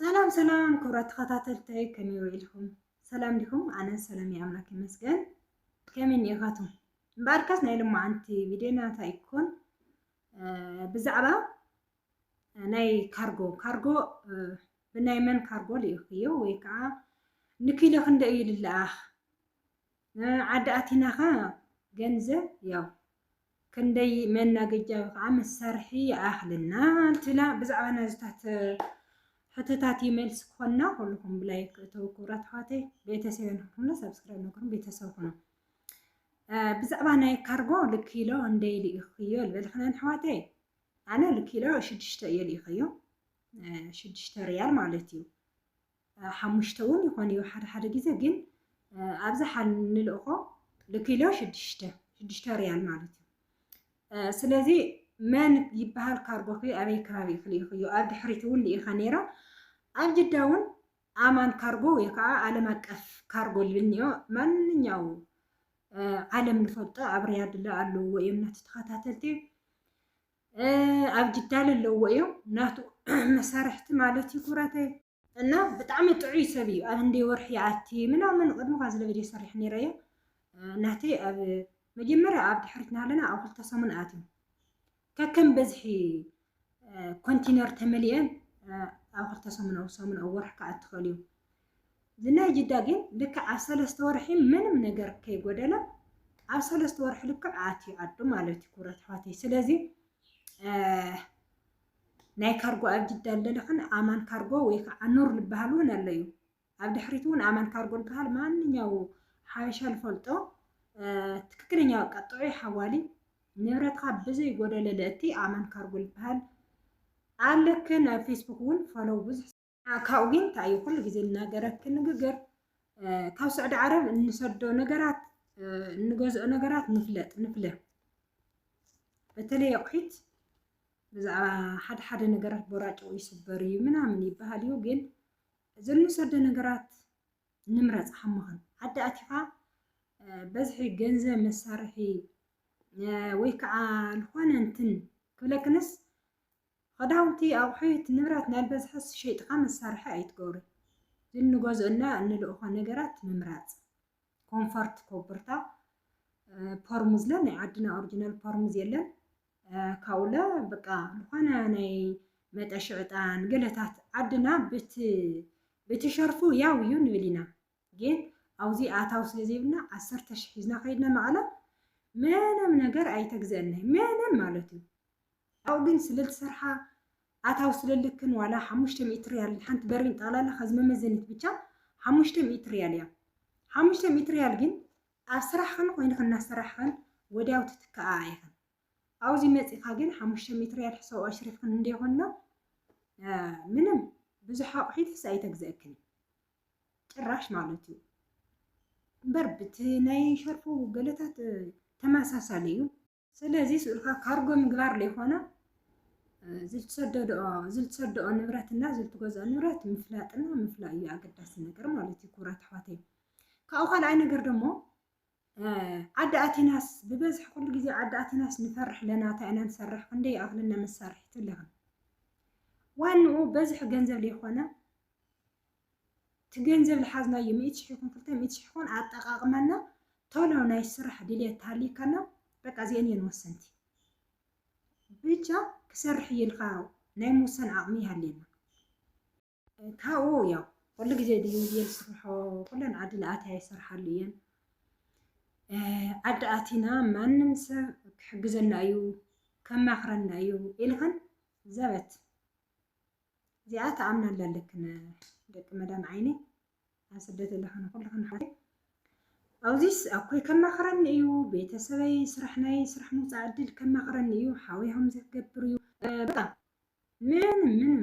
ሰላም ሰላም ክብራት ተኸታተልተይ ከመይ ውዒልኩም ሰላም ዲኹም? ኣነ ሰላም እየ ኣምላክ ይመስገን። ከመይ እኒኢኻትኩም? እምበኣርካስ ናይ ልማዓንቲ ቪድዮና እንታይ ይኮን ብዛዕባ ናይ ካርጎ ካርጎ ብናይ መን ካርጎ ልኢኽዮ ወይ ከዓ ንኪሎ ክንደይ እዩ ልለኣኽ ዓዲ ኣቲና ከኣ ገንዘብ ያው ክንደይ መናገጃ ከዓ መሳርሒ ይኣኽልና ትብላ ብዛዕባ ናዝታት ሕቶታት መልሲ ክኾና ኩልኹም ብላይ ክእተው ክብራት ኣሕዋተይ ቤተሰብ ንክኹምና ሰብስክራይብ ንክኹም ቤተሰብ ኩኑ ብዛዕባ ናይ ካርጎ ልኪሎ እንደይ ልኢኽዮ ዝበልክነን ኣሕዋተይ ኣነ ልኪሎ ሽዱሽተ እየ ልኢኸዮ ሽዱሽተ ሪያል ማለት እዩ ሓሙሽተ እውን ይኾን እዩ ሓደ ሓደ ግዜ ግን ኣብዝሓ ንልእኾ ልኪሎ ሽዱሽተ ሽዱሽተ ሪያል ማለት እዩ ስለዚ መን ይበሃል ካርጎኺ ኣበይ ከባቢ ኢኺ ልኢኽዮ ኣብ ድሕሪት እውን ልኢኻ ነይረ ኣብ ጅዳ እውን ኣማን ካርጎ ወይ ከዓ ዓለም ኣቀፍ ካርጎ ልብል እኒኦ ማንኛው ዓለም ንፈልጦ ኣብ ሪያድ ኣሎ እዮም ናቲ ተኸታተልቲ ኣብ ጅዳ ለለዎ እዮም ናቱ መሳርሕቲ ማለት እዩ ኩራተይ እና ብጣዕሚ ጥዑይ ሰብ እዩ ኣብ እንደ ወርሒ ይኣቲ ምናምን ቅድሚ ኳ ዝለ ቪድዮ ሰሪሕ ነይረ እየ ናተይ ኣብ መጀመርያ ኣብ ድሕሪት ናለና ኣብ ክልተ ሰሙን ኣትዩ ከከም በዝሒ ኮንቲነር ተመሊአን ኣብ ክልተ ሰሙን ኣብ ሰሙን ኣብ ወርሒ ክኣ ትኽእል እዩ ዝናይ ጅዳ ግን ልክዕ ኣብ ሰለስተ ወርሒ ምንም ነገር ከይጎደለ ኣብ ሰለስተ ወርሒ ልክዕ ኣትዩ ዓዱ ማለት እዩ ክብረት ኣሕዋተይ ስለዚ ናይ ካርጎ ኣብ ጅዳ ኣለለኽን ኣማን ካርጎ ወይ ከዓ ኑር ዝበሃል እውን ኣሎ እዩ ኣብ ድሕሪት እውን ኣማን ካርጎ ዝበሃል ማንኛው ሓበሻ ዝፈልጦ ትክክለኛ በቃ ጥዑይ ሓዋሊ ንብረትካ ብዘይ ጎደለ ለእቲ ኣማን ካርጎ ዝበሃል ኣለክን ኣብ ፌስቡክ እውን ፎሎው ብዙሕ ካብኡ ግን እንታይ እዩ ኩሉ ግዜ እናገረኪ ንግግር ካብ ስዑዲ ዓረብ እንሰዶ ነገራት እንገዝኦ ነገራት ንፍለጥ ንፍለ በተለይ ኣቑሒት ብዛዕባ ሓደ ሓደ ነገራት ቦራጭኡ ይስበር እዩ ምናምን ይበሃል እዩ ግን እዚ እንሰዶ ነገራት ንምረፅ ሃመኸን ዓዲ ኣቲኻ በዝሒ ገንዘብ መሳርሒ ወይ ከዓ ዝኾነ እንትን ክብለክንስ ኽዳውንቲ ኣቑሑት ንብረት ናይ በዝሒ ሸይጥኻ መሳርሒ ኣይትገብሮ ግን ንገዝኦ እና እንልእኾ ነገራት ምምራፅ ኮንፈርት ኮብርታ ፐርሙዝለ ናይ ዓድና ኦሪጂናል ፐርሙዝ የለን ካብኡለ በቃ ዝኾነ ናይ መጠሽዕጣን ገለታት ዓድና ብቲ ብቲ ሸርፉ ያው እዩ ንብል ኢና ግን ኣውዚ ኣታዊ ስለ ዘይብልና ዓሰርተ ሽሕ ሒዝና ከይድና መቐለ ምንም ነገር ኣይተግዘእናይ ምንም ማለት እዩ ኣብኡ ግን ስለ ዝሰርሓ ኣታዊ ስለ ልክን ዋላ ሓሙሽተ ሚእቲ ሪያል ሓንቲ በሪን ጠቕላላ ከዚ መመዘኒት ብቻ ሓሙሽተ ሚእቲ ሪያል እያ ሓሙሽተ ሚእቲ ሪያል ግን ኣብ ስራሕኽን ኮይንኽን እናሰራሕኽን ወዲያው ትትከኣ ኢኽን ኣብዚ መፂእኻ ግን ሓሙሽተ ሚእቲ ሪያል ሕሳብ ኣሽሪፍኽን እንደ ይኾንና ምንም ብዙሕ ኣቑሒት ሕሳ ኣይተግዘእክን ጭራሽ ማለት እዩ እምበር ብቲ ናይ ሸርፉ ገለታት ተመሳሳሊ እዩ። ስለዚ ስእልካ ካርጎ ምግባር ዘይኮነ ዝልትሰደድኦ ዝልትሰደኦ ንብረት እና ዝልትገዝኦ ንብረት ምፍላጥና ምፍላይ እዩ ኣገዳሲ ነገር ማለት እዩ ክብራት ኣሕዋተይ ካብኡ ካልኣይ ነገር ደሞ ዓዲ ኣቲናስ ብበዝሒ ኩሉ ግዜ ዓዲ ኣቲናስ ንፈርሕ ለና እንታይ ኢና ንሰርሕ ክንደይ ይኣክለና መሳርሒ ትልክን ዋንኡ በዝሒ ገንዘብ ዘይኮነ እቲ ገንዘብ ዝሓዝናዮ ሚእቲ ሽሕ ይኹን ክልተ ሚእቲ ሽሕ ይኹን ኣጠቃቅመና ቶሎ ናይ ስራሕ ድልየት ተሃሊከና በቃ እዚአን እየን ወሰንቲ ብቻ ክሰርሕ እየ ኢልካ ናይ ምውሳን ዓቅሚ ይሃልየና ካብኡ ያው ኩሉ ግዜ ድዩ እየን ዝስርሖ ኩለን ዓዲ ንኣትያ ይሰርሓሉ እየን ዓዲ ኣቲና ማንም ሰብ ክሕግዘና እዩ ከማኽረና እዩ ኢልኽን ዘበት እዚኣ ተኣምናላ ኣለክን ደቂ መዳም ዓይኒ ኣብ ስደት ኣለኽን ኩልኽን ሓ ኣብዚስ ኣኮይ ከማኽረኒ እዩ ቤተሰበይ ስራሕ ናይ ስራሕ ምውፃእ ዕድል ከማኽረኒ እዩ ሓውያም ዘገብር እዩ በጣም ምንም ምንም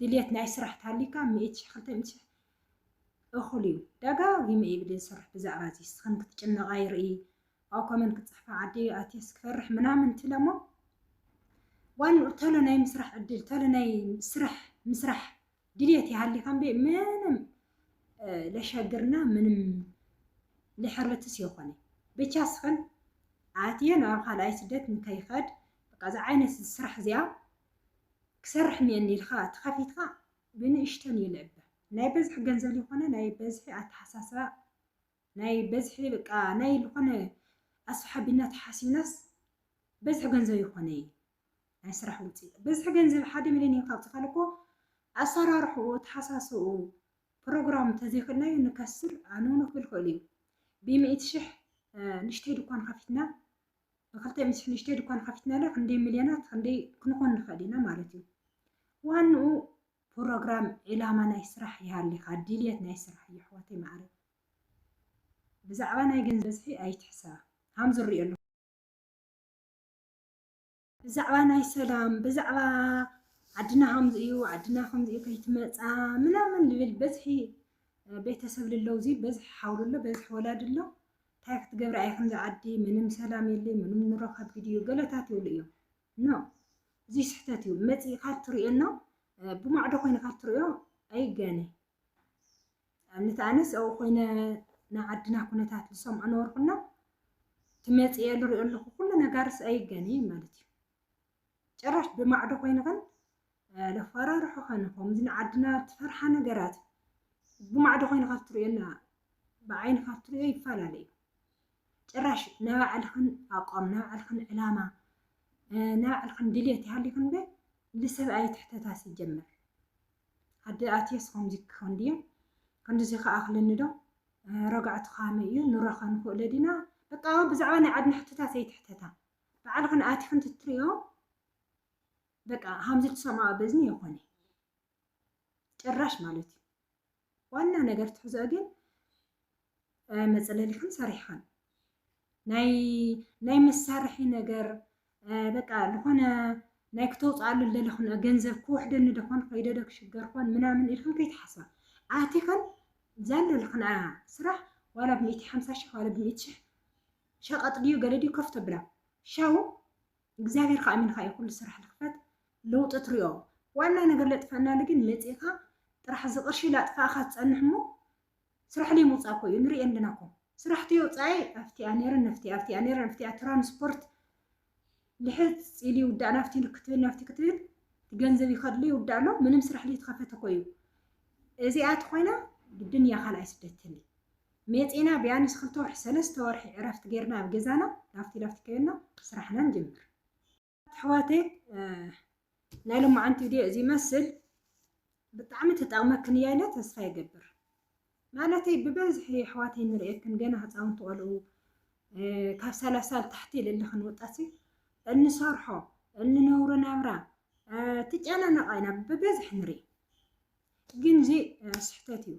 ድልየት ናይ ስራሕ ተሃልዩካ ሚእቲ ሽሕ ክልተ ሚእቲ ሽሕ እኹል እዩ ደጋጊመ እየ ቪድዮ ዝሰርሕ ብዛዕባ እዚ ንስኽን ክትጭነቓ ይርኢ ኣብ ኮመንት ክትፅሕፋ ዓዲ ኣትየስ ክፈርሕ ምናምን ትብለ እሞ ዋንኡ ተሎ ናይ ምስራሕ ዕድል ተሎ ናይ ስራሕ ምስራሕ ድልየት ይሃልዩካ እምበ ምንም ለሸግርና ምንም ልሕርትስ የኾነ ብቻ ስኽን ኣትየ ናብ ካልኣይ ስደት ንከይኸድ በቃ እዚ ዓይነት ስራሕ እዚኣ ክሰርሕ እኒኤኒ ኢልካ ተኸፊትካ ብንእሽተን እዩ ልዕበ ናይ በዝሒ ገንዘብ ልኾነ ናይ በዝሒ ኣተሓሳስባ ናይ በዝሒ በቃ ናይ ልኾነ ኣስሓቢና ተሓሲብናስ በዝሒ ገንዘብ ይኾነ እዩ ናይ ስራሕ ውፅኢት በዝሒ ገንዘብ ሓደ ሚሊዮን እዩ ካብ ትኸል እኮ ኣሰራርሕኡ ተሓሳስኡ ፕሮግራም ተዘይክእልናዩ ንከስር ኣንውኑ ክብል ክእል እዩ ብሚእቲ ሽሕ ንሽተይ ድኳን ከፊትና ብክልተ ምስ ንእሽተይ ድኳን ከፊትናላ ክንደይ ሚልዮናት ክንደይ ክንኾን ንኽእል ኢና ማለት እዩ። ዋንኡ ፕሮግራም ዒላማ ናይ ስራሕ ይሃሊኻ ድልየት ናይ ስራሕ እዩ ኣሕዋተይ መዓረይ ብዛዕባ ናይ ገንዘብ ብዝሒ ኣይትሕሰባ ሃም ዝሪኦ ኣለኹ ብዛዕባ ናይ ሰላም ብዛዕባ ዓድና ከምዚ እዩ ዓድና ከምዚ እዩ ከይትመፃ ምናምን ልብል በዝሒ ቤተሰብ ልለው እዚ በዝሒ ሓውሉ ኣሎ በዝሒ ወላዲ ኣሎ ታይ ክትገብሪ ኣይ ከምዚ ዓዲ ምንም ሰላም የለይ ምንም ኑሮ ከብድ እዩ ገለታት ይብሉ እዮም ኖ እዙይ ስሕተት እዩ መፂእካ ትሪኦ ኖ ብማዕዶ ኮይንካ ትሪኦ ኣይጋነ ኣብነት ኣነስ ኣብኡ ኮይነ ናይ ዓድና ኩነታት ዝሰምዖ ነበርኩና ትመፅእ እየ ዝሪኦ ኣለኩ ኩሉ ነጋርስ ኣይጋነ ማለት እዩ ጭራሽ ብማዕዶ ኮይንኽን ለፋራርሑኽን ከምዚ ንዓድና ትፈርሓ ነገራት ብማዕዶ ኮይኑ ካብ ትሪኦና ብዓይኒ ካብ ትሪኦ ይፈላለ እዩ ጭራሽ ናይ ባዕልኽን ኣቋም ናይ ባዕልኽን ዕላማ ናይ ባዕልኽን ድሌት ይሃሊኽን በ ልሰብ ኣይትሕተታ ሲጀመር ኣደ ኣትየስ ከምዚ ክኸውን ድየ ከምዚ ከዓ ክልኒ ዶ ረጋዕቱ ካመይ እዩ ንራኸ ንኽእለ ዲና በቃ ብዛዕባ ናይ ዓድና ሕቶታት ኣይትሕተታ ባዕልኽን ኣቲኽን ትትሪኦ በቃ ሀምዚ ትሰማዖ በዝኒ የኾነ ጭራሽ ማለት እዩ። ዋና ነገር ትሕዝኦ ግን መፅለሊኽን ሰሪሕኽን ናይ ናይ መሳርሒ ነገር በቃ ዝኾነ ናይ ክተውፅኣሉ ዘለኽን ገንዘብ ክውሕደኒ ደኾን ከይደ ዶ ክሽገር ኮን ምናምን ኢልክን ከይትሓስባ ኣቲኽን ዘለልኽን ስራሕ ዋላ ብሚእቲ ሓምሳ ሽሕ ዋላ ብሚእቲ ሽሕ ሸቀጥ ድዩ ገለ ድዩ ከፍ ተብላ ሸው እግዚኣብሔር ከ ኣሚንካ እዩ ኩሉ ስራሕ ልክፈት ለውጢ ትሪኦ ዋና ነገር ለጥፈእናሉ ግን መፂእካ ጥራሕ እዚ ቅርሺ ላጥፋእካ ትፀንሕ እሞ ስራሕ ለይምውፃእ እኮ እዩ ንሪኦ ኣለና እኮ ስራሕ ተየውፃኣይ ኣብቲኣ ነይረ ነፍቲኣ ኣብቲኣ ነይረ ኣብቲኣ ትራንስፖርት ልሕት ኢሉ ይውዳእ ናብቲ ክትብል ናብቲ ክትብል ገንዘብ ይኸድሉ ይውዳእ ኣሎ ምንም ስራሕ ዘይተኸፈተ እኮ እዩ እዚኣ ተኾይና ግድን እያ ካልኣይ ስደት ትህሊ ሜፂና ቢያንስ ክልተ ወርሒ ሰለስተ ወርሒ ዕረፍቲ ጌርና ኣብ ገዛና ናብቲ ናብቲ ከየና ስራሕና ንጀምር ኣሕዋተይ ናይ ሎማዓንቲ ቪድዮ እዚ ይመስል ብጣዕሚ ትጠቅመክን እያ ኢለ ተስፋ ይገብር ማለተይ ብበዝሒ ኣሕዋተይ ንርእየክን ገና ህፃውንቲ ቆልኡ ካብ ሰላሳ ንታሕቲ ልልኽን ወጣት እንሰርሖ እንነብሮ ናብራ ትጨናነቃ ኢና ብበዝሒ ንርኢ ግን እዚ ስሕተት እዩ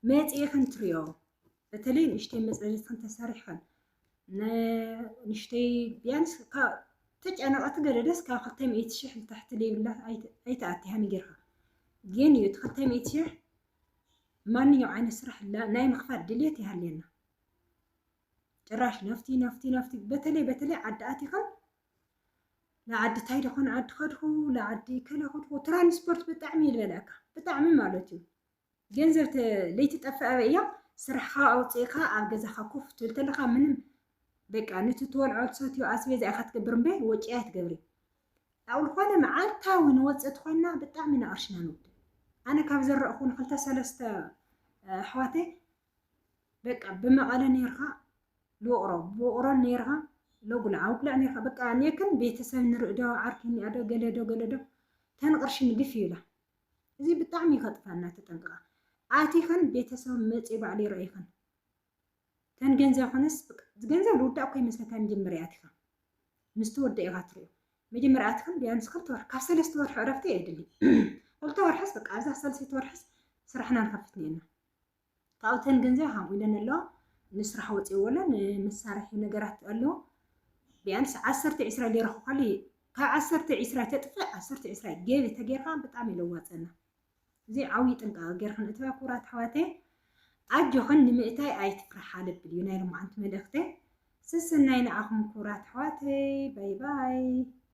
መፅኢኽን ትሪኦ በተለይ ንእሽተይ መፅለሊትኽን ተሰሪሕኽን ንእሽተይ ቢያንስ ተጨነቐት ገደደስ ካብ ክልተ ሚእቲ ሽሕ ንታሕቲ ዘይብላ ኣይትኣቲ ሃሚ ጌርካ ግን እዩ እቲ ክልተ ሚእቲ ሽሕ ማንኛው ዓይነት ስራሕ ናይ ምኽፋት ድሌት ይሃልየና ጭራሽ ነፍቲ ነፍቲ ነፍቲ በተለይ በተለይ ዓዲ ኣቲኸን ንዓዲ ታይ ደኾን ዓዲ ከድኹ ንዓዲ ከለ ከድኹ ትራንስፖርት ብጣዕሚ ይበልዐካ ብጣዕሚ ማለት እዩ ገንዘብ ለይትጠፍእ ኣበይ እያ? ስራሕኻ ኣውፂእኻ ኣብ ገዛኻ ኮፍ ትብል ተለኻ ምንም በቃ ነቲ ትበልዖ ትሰትዮ ኣስቤዛ ኢኻ ትገብር እምበር ወጪ ኣይትገብሪ ኣብ ዝኾነ መዓልታዊ ንወፅእ ትኾንና ብጣዕሚ ኢና ቅርሽና ንውድእ ኣነ ካብ ዘረእኹ ንክልተ ሰለስተ ኣሕዋተይ በቃ ብመቐለ ነርካ ልውቕሮ ብውቕሮ ነርካ ለጉልዓ ውግላዕ ነርካ በቃ ኔክን ቤተሰብ ንርእዶ ዓርኪ ኒኣዶ ገለዶ ገለዶ ተን ቅርሺ ንግፍ ይብላ እዚ ብጣዕሚ እዩ ከጥፈና ተጠንቅቃ ኣቲኽን ቤተሰብ መፂ ባዕሉ ይረኢኽን ተን ገንዘብ ኮነስ ገንዘብ ልውዳእ እኮ ይመስለካ መጀመርያ ኣቲኻ ምስ ተወደእ ኢኻ ትሪኦ መጀመርያ ኣቲኽን ቢያንስ ክልተ ወርሒ ካብ ሰለስተ ወርሒ ዕረፍቲ የድሊ ክልተ ወርሕስ በቃ ኣብዛ ሳልሰይቲ ወርሕስ ስራሕና ንኸፍት ነና ካብኡ እተን ገንዘብ ሃም ኢለን ኣለዋ ንስራሕ ወፂእዎ ኣሎ ንመሳርሒ ነገራት ኣለዎ ቢያንስ ዓሰርተ ዒስራ ገይረ ክኳሉ ካብ ዓሰርተ ዒስራ ተጥፍእ ዓሰርተ ዒስራ ገቢ ተገይርካ ብጣዕሚ ለዋፀና እዚ ዓብዪ ጥንቃቐ ገይርካ ንእትብያ ክቡራት ኣሕዋተ ኣጆኽን ንምእታይ ኣይትፍርሓ ልብል እዩ ናይ ሎማዓንቲ መልእኽተ ሰሰናይ ንዓኹም ክቡራት ኣሕዋተይ ባይ ባይ